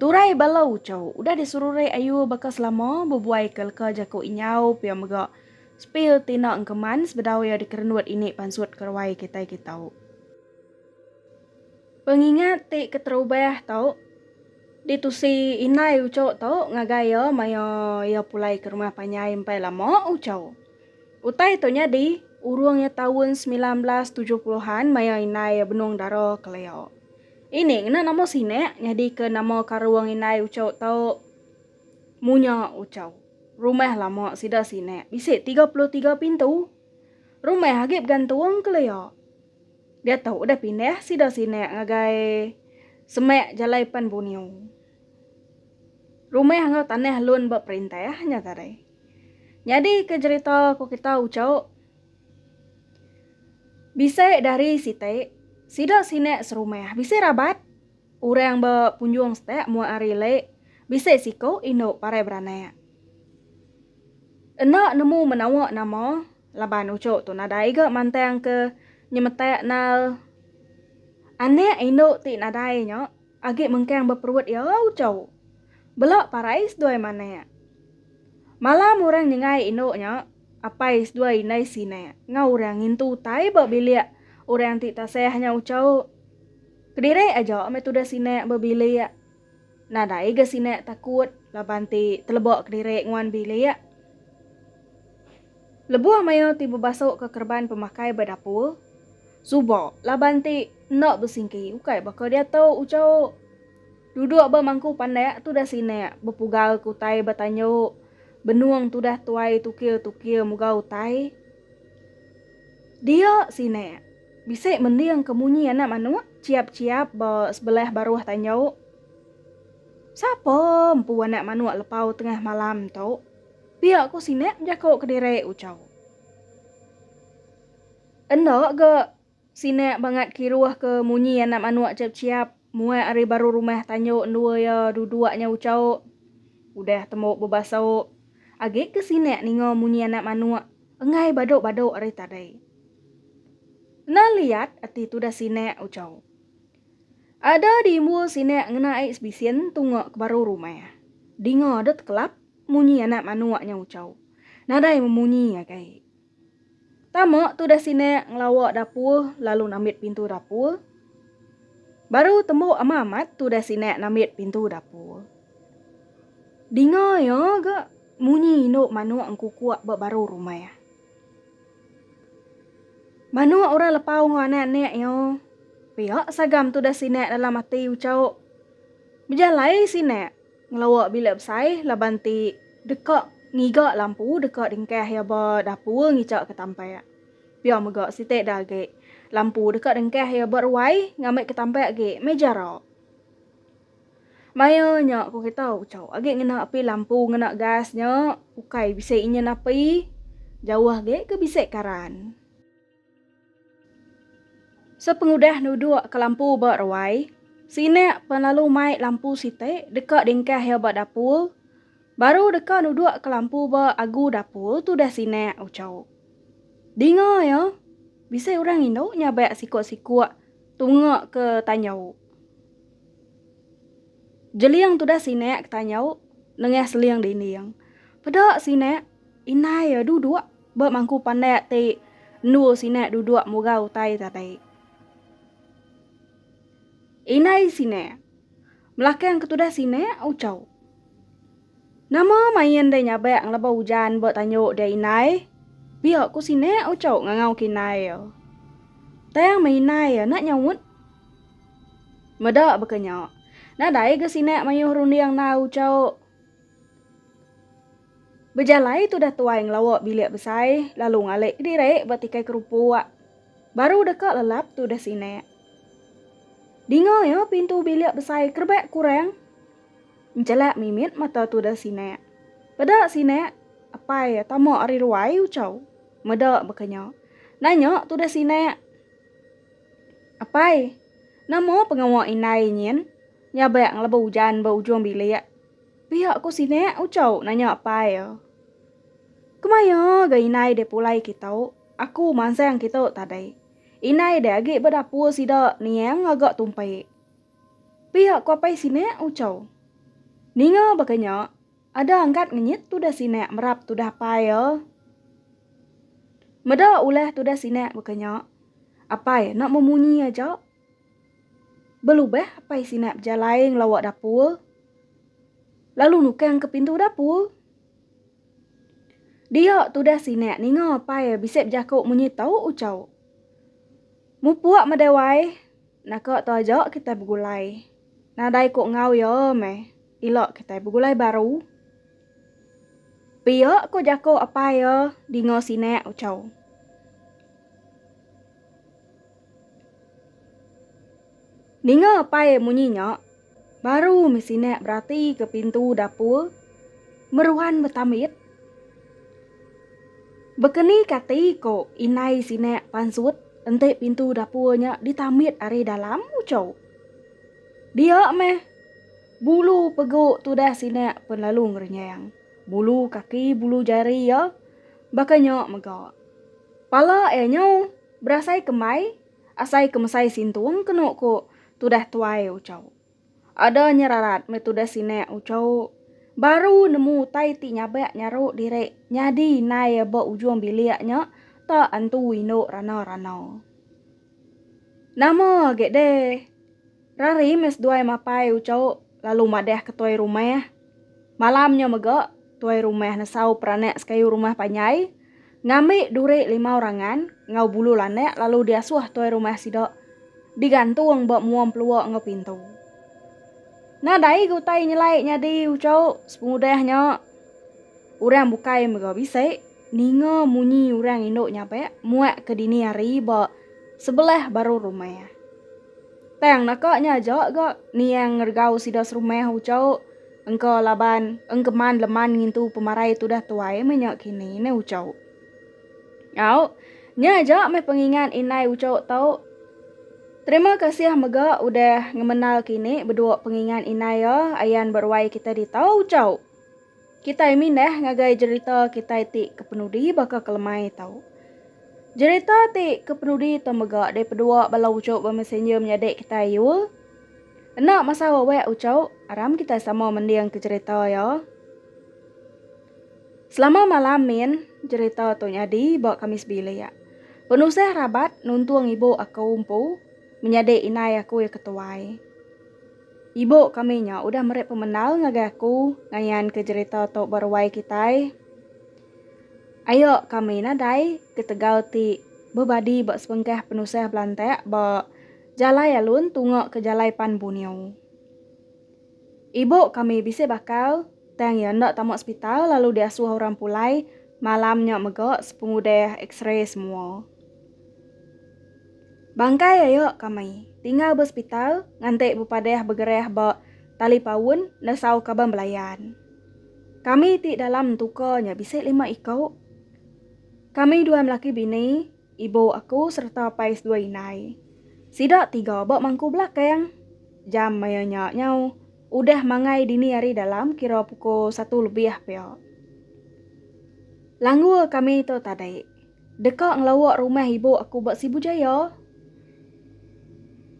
Turai bala ucau udah diserurai ayu baka selama bebuai ke leka jaku inyau pia mega Spil Tina Engkeman sebedau iya dikerendut ini pansut ke ruai kitai kitau. Pengingat ti keterubah tu ditusi indai ucu tu ngagai iya maya iya pulai ke rumah panjai empai lama ucau. Utai tu nyadi urung iya taun semilan belas tujuh puluh an maya indai iya benung dara kelia. Ini ngena nama sinak nyadika nama karung indai Ucho tu Munya Ucho. Rumah lama sida sinak bisi tiga puluh tiga pintu. Rumah agi begantung kelia. Diatu udah pindah sida sinak ngagai semak Jalai Pan Bunyu. Rumah enggau tanah lun ba perintah nya tadi. Nyadika jerita ku kita Ucho. Bisi dari siti, sida sinak serumah bisi rabat. Orang ba punjung setak mua ari le, bisi siku indu parai beranak. Enda nemu menawa nama laban uchu tu nadai ga mantang ke nyemetak nal anak indu ti nadai nya agi mengkang ba perut iya uchu. Bela parai seduai manak. Malam orang nyengai indu nya. Apai seduai indai sinak enggau orang ngintu utai ba bilik orang ti tasah nya ucau. Kediri aja meh tudah sinak ba bilik. Nadai ga sinak takut laban ti teleba kediri nguan bilik. Lebuh mayuh ti bebasuka kereban pemakai ba dapur, suba laban ti enda besingki ukai baka diatu, ucau. Duduk ba mangku pandak tudah sinak bepugau ke utai ba tanyu benung tudah tuai tukir-tukir muga utai dia sinak. Bisi mending ke munyi anak manuk chiap-chiap ba sebelah baruh tanyu. Sapa empu anak manuk lepau tengah malam tu? Pia ku sinak bejaku kediri uchu. Enda ga Sinak bangat kiruh ke munyi anak manuk chep-chiap muat ari baru rumah tanjok endua iya duduk nya uchauk. Udah tembok bebasauk, agik ke sinak ninga munyi anak manuk enggai badok-badok ari tadi. Enda liat ati tudah sinak uchauk. Ada diimbul sinak ngena aik sebisin tunga ke baru rumah. Dinga dek tekelap munyi anak manuk nya uchauk. Nadai memunyi agik. Tama tudah sinak ngelawa dapur lalu nambit pintu dapur. Baru tembu ama amat tudah sinak nambit pintu dapur. Dinga iya ga munyi indu manuk engkukuk ba baru rumah. Manuk orang lepau enggau anak-anak iya pia sagam tudah sinak dalam ati uchauk. Bejalai sinak. Ngelawa bilik besai laban ti deka ngiga lampu deka dengkah iya ba dapur ngichaka tampak. Pia mega siti da agi, lampu deka dengkah iya ba ruai ngambika tampak agi meh jara. Maya nya ku kita uchu agi ngena api lampu ngena gas nya ukai bisi enyin api, jauh agi ke bisi karan. Sepengudah nuduk ke lampu ba ruai, Sinak pan lalu mai lampu siti deka dingkah iya ba dapur. Baru deka nuduk ke lampu ba agu dapur tudah Sinak uchau. Dinga iya, bisi orang indu nyabak sikuk-sikuk tunga ke tanjau. Jeling tudah Sinak ke tanjau nengah seling dinding. Peda Sinak, indai iya duduk. Ba mangku pandak ti endur sinak duduk murah utai tadi. Indai sinak. Belakang ke tudah sinak ucau. Nama main deh nyabak ngeleba ujan ba tanyuk dia indai? Pia ku sinak ucau ngangau ke indai iya. Tang meh indai iya enda nyaut. Meda baka nya. Nadai ga sinak mayuh runding endar ucau. Bejalai tudah tuai ngelawa bilik besai lalu ngalik kediri ba tikai kerupuk. Baru deka lelap tudah sinak. Dinga iya pintu bilik besai kerebak kurang. Enjelak mimit mata tudah sinak. Peda sinak, apai tama ari ruai ucau. Meda baka nya. Nanya tudah sinak. Apai, nama pengawa indai nyin nyabak ngelabuh ujan ba ujung bilik? Pia ko sinek ucau nanya pai iya. Kemaya ga inai deh pulai kita, aku mansang kita tadi. Inai deh agi ba dapur sida niang ngaga tumpi. Pia ko apai sinek ucau. Ninga baka nya, ada angkat ngenyit tudah sinek merap tudah pai iya. Meda ulah tudah sinek baka nya, apai enda memunyi aja Belubah Apai Sinak bejalai ngelawa dapur lalu nukang ke pintu dapur. Dia tudah Sinak ninga Apai bisi bejako munyi tau ucau. Mupuk madai wai, naka tu aja kitai begulai. Nadai ko enggau iya meh, ila kitai begulai baru. Pia ko jako Apai iya dinga Sinak ucau. Ninga apai munyi nya, baru mih sinak beratika pintu dapur meruan betamit. Bekeni kati ko indai sinak pansut enti pintu dapur nya ditamit ari dalam ucho. Dia mih bulu pegu tudah sinak pen lalu ngerenyang. Bulu kaki bulu jari iya baka nya mega. Pala iya nyau. Berasai kembai, asai ke mesai sintung kenu ku tudah tuai ucau. Ada nyerarat meh tudah sinak ucau baru nemu utai ti nyabak nyaru diri nyadi indai ba ujung bilik nya ta antu indu rana-rana. Nama agi deh. Rari meh seduai mapai uco lalu madah ke tuai rumah. Malam nya mega, tuai rumah nesau peranak sekayu rumah panjai ngambi duri limau rangan enggau bulu landak lalu diasuh tuai rumah sida digantung ba mua empelua enggau pintu. Nadai ge utai nyelai nyadi uco sepengudah nya. Orang bukai mega bisi Ninga munyi urang indu nyabak muak ke dini hari ba sebelah baru rumah. Tang naka nya aja ga Niang ngeregau sida serumah uchauk engka laban engkeman leman ngintu pemarai tudah tuai meh nya kini ne uchauk. Au, nya aja meh pengingat indai uchauk tau. Terima kasih mega udah ngemenal kini bedua pengingat indai ya ayan ba ruai kita di tau uchauk. Kitai mindah ngagai jerita kitai ti kepenudi baka ke lemai tau. Jerita ti kepenudi tu mega dipedua bala uchu bemesenger menyadi kitai yul. Enda masa wewek uchu, aram kitai sama mending ke jerita iya. Selama malam min jerita tu nyadi ba kami sebilik. Penusah rabat nuntung ibu aku empu menyadi inai aku iya ketuai. Ibu kami nya udah meri pemendar ngagai aku ngayanka jerita tu ba ruai kitai. Ayo kami nadai ketegal ti bebadi ba sebengkah penusah belantak ba jalai alun tunga ke jalai pan Bunio. Ibu kami bisi bakal tang iya enda tama sepital lalu diasuh orang pulai malam nya mega sepengudah x-ray semua. Bangkai ayo kami tinggal ba sepital nganti bepadah begerah ba talipaun nesau kaban belayan. Kami ti dalam entuka nya bisi lima iku. Kami dua melaki bini, ibu aku sereta pais dua indai. Sida tiga ba mangku belakang. Jam maya nya nyau udah mangai dini hari dalam kira pukul satu lebih pia. Langgur kami tu tadi. Deka ngelawa rumah ibu aku ba Sibu Jaya.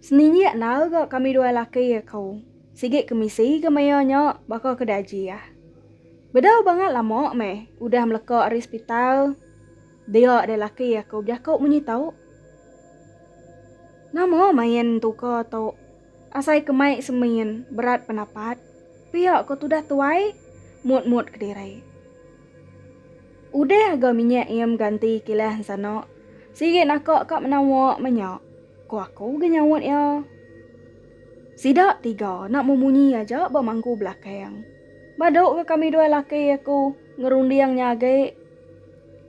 Seninjik endar ga kami dua laki aku. Sigi ke misi ke maya nya baka ke dajih. Bedau bangat lama meh udah meleka ari sepital dia deh laki aku bejaku munyi tu. Nama main entuka tu. Asai ke mai semin berat pendapat. Pia ko tudah tuai mut-mut kediri. Udah aga minyak iya mganti kilah ensana. Sigi naka ka menawa menya, ku aku ga nyaut iya. Sida tiga enda memunyi aja ba mangku belakang. Badu ga kami dua laki aku ngerunding nya agi.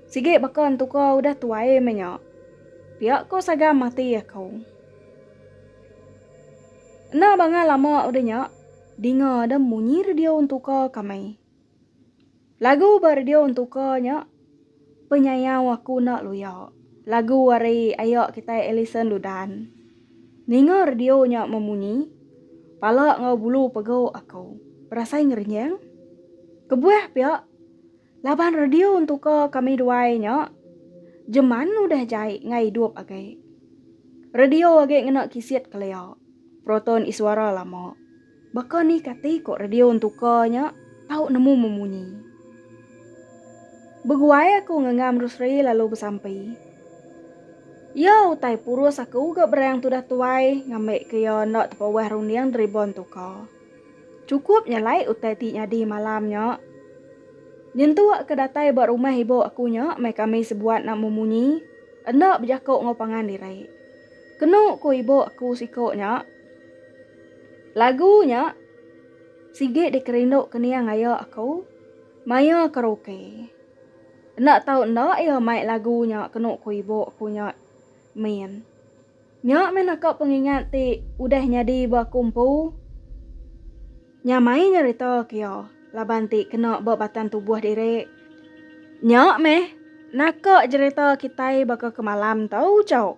Sigi baka entuka udah tuai menya. Pia ko sagam ati aku. Enda bangah lama udah nya, dinga ada munyi radio entuka kami. Lagu ba radio ntuka nya penyayau aku enda luya. Lagu ari aya kitai Alison Ludan. Ninga radio nya memunyi, pala enggau bulu pegu aku berasai ngerenjang. Kebuah pia, laban radio ntuka kami duai nya jeman udah jai enggau idup agi. Radio agi ngena kisit kelia, proton iswara lama. Baka ni kati ko radio entuka nya tau nemu memunyi. Beguai aku ngengam Rusri lalu besampi. Iya utai purus aku ga berang tudah tuai ngambi ke iya enda tepauah runding deriba entuka. Cukup nyelai utai ti nyadi malam nya. Nyentu ke datai ba rumah ibu aku nya meh kami sebuat enda memunyi, enda bejako enggau pangan diri. Kenu ku ibu aku siko nya. Lagu nya sigi dikerindu kening aya aku maya karaoke. Enda tau enda iya mai lagu nya kenu ku ibu aku nya min. Nya mih naka pengingat ti udah nyadi ba aku empu nyamai nyerita ke iya laban ti kena ba batang tubuh diri. Nya mih naka jerita kitai baka kemalam tu chau.